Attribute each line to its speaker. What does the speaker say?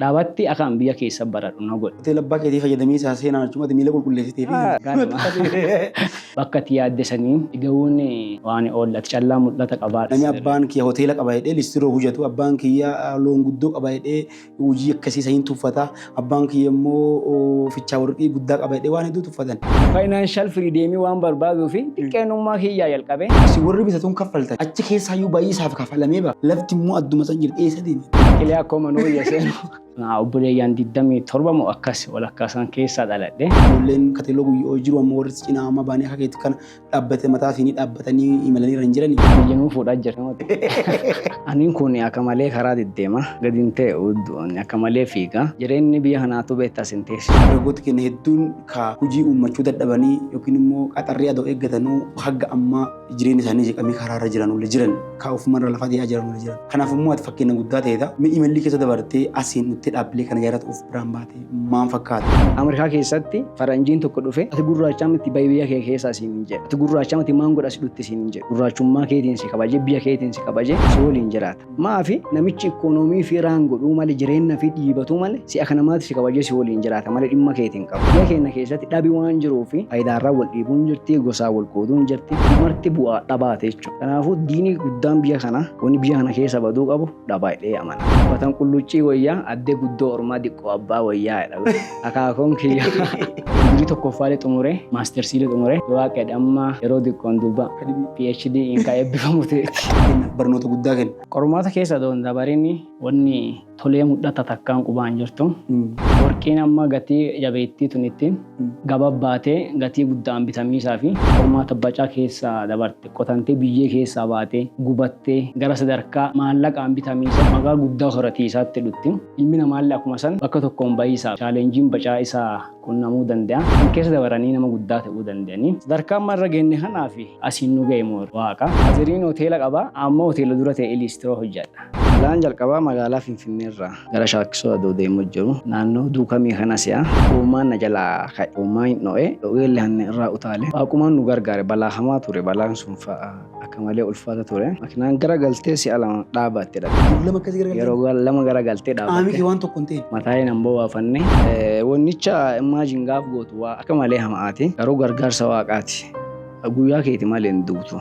Speaker 1: Dhaabatti akaan biyya keessa baradhu na godhi. Hoteela abbaa keetii fayyadamii
Speaker 2: isaa seenaan achumatti miila qulqulleessitee fi Ganama. Bakka ati
Speaker 1: yaadde sanii ga'uun waan oolla. Ati callaa mul'ata qabaadha. Nami abbaan kiyya hoteela
Speaker 2: qaba jedhee listiroo hojatu, abbaan kiyya loon guddoo qaba jedhee hojii akkasii saniin tuffata, abbaan kiyya immoo fichaa warqii guddaa qaba jedhee waan hedduu tuffatan. Financial freedom
Speaker 1: waan barbaaduu fi xiqqeenummaa kiyyaa jalqabee. Isin warri bitatuun
Speaker 2: kaffaltan achi keessaayyuu baay'ee isaaf kafalamee ba'a. Lafti immoo adduma san jirti eessa deema? Qilee akkoo manuu
Speaker 1: iyya seenu. Obboleeyyaan 27 moo akkas walakkaa isaan keessaa dhaladhe. Ijoolleen kateeloo
Speaker 2: guyyoo jiru ammoo warri cinaa amma baanii akka keetti kana dhaabbate mataa fi ni dhaabbatanii imalanii irra hin jirani. Biyya nuu fuudhaa jira
Speaker 1: namatti. Aniin kun akka malee karaa deddeema. Gadi hin ta'e udduun akka malee fiiga. Jireenyi biyya kanaatu beektaa sin teessu. Dargaggooti keenya hedduun
Speaker 2: ka hojii uummachuu dadhabanii yookiin immoo qaxarrii adoo eeggatanuu hagga ammaa jireenya isaanii jeeqamee karaa irra jiran olli jiran kaa ofuma irra lafa dhiyaa jiran olli jiran kanaaf immoo ati fakkeenya guddaa ta'eedha mee imallii keessa dabartee asiin nutti dhaabbilee kana jaarratu of biraan baate maan fakkaata. Ameerikaa keessatti
Speaker 1: faranjiin tokko dhufe ati gurraachaa miti bayi biyya kee keessa asiin hin jedhe ati gurraachaa miti maan godha si dhutti siin hin jedhe gurraachummaa keetiin si kabaje biyya keetiin si kabaje si waliin jiraata. Maafi namichi ikoonoomii fi raan godhuu male jireenna fi dhiibatuu male si aka namaati si kabajee si waliin jiraata male dhimma keeti hin qabu. Biyya keenna keessatti dhabi waan jiruu fi fayidaarraan wal dhiibuun jirti, gosaan wal qooduun jirti. Kun marti bu'aa dhabaati jechuudha. Kanaafuu diini guddaan biyya kanaa wanni biyya kana keessa baduu qabu dhabaa jedhee amana. Watan qulluccii woyyaa addee guddoo ormaa diqqoo abbaa woyyaa jedha. Akaakuun kiyya. Digirii tokkoffaalee xumuree maastersiilee xumuree yoo waaqedha amma yeroo xiqqoon duuba PhD in kan eebbifamu ta'eeti. Barnoota guddaa
Speaker 2: kenna. Qormaata keessa doon
Speaker 1: dabarin wanni tolee mul'ata takkaan qubaan jirtu. Warqiin amma gatii jabeettii tun ittiin gababbaatee gatii guddaan bitamiisaa fi qormaata bacaa keessa dabarte. qotantee biyyee keessaa baatee, gubattee, gara sadarkaa maallaqaan bitamiisa magaa guddaa horatiisaatti dhutti. Ilmi namaallee akkuma san bakka tokkoon bahiisaaf challenge bacaa isa qunnamuu danda'a. San keessa dabaranii nama guddaa ta'uu danda'anii. Sadarkaa amma irra geenne kanaafi asiin nu gahe moor waaqa. Aziriin hoteela qaba, amma hoteela dura ta'ee liistiroo hojjadha. Balaan jalqabaa magaalaa Finfinneerraa. Gara Shaakkisoo adoo deemuu jiru. Naannoo Duukamii kana si'a. Hoomaan na jalaa ka'e. Hoomaa hin dho'e. Dho'eelle hanna irraa utaale. Waaqumaan nu gargaare. Balaa hamaa ture. Balaan sun fa'a akka malee ulfaata ture. Makinaan gara galtee si'a lama dhaabaatte dhabe. Yeroo lama akkasi gara galtee. Yeroo lama gara galtee dhaabatte. Qaami kee waan tokko hin teene.
Speaker 2: Mataaye nan bowaafanne.
Speaker 1: Wonnicha imagine gaaf gootu waa akka malee hama'aati. Garuu gargaarsa Waaqaati. Guyyaa keeti malee hin duutu.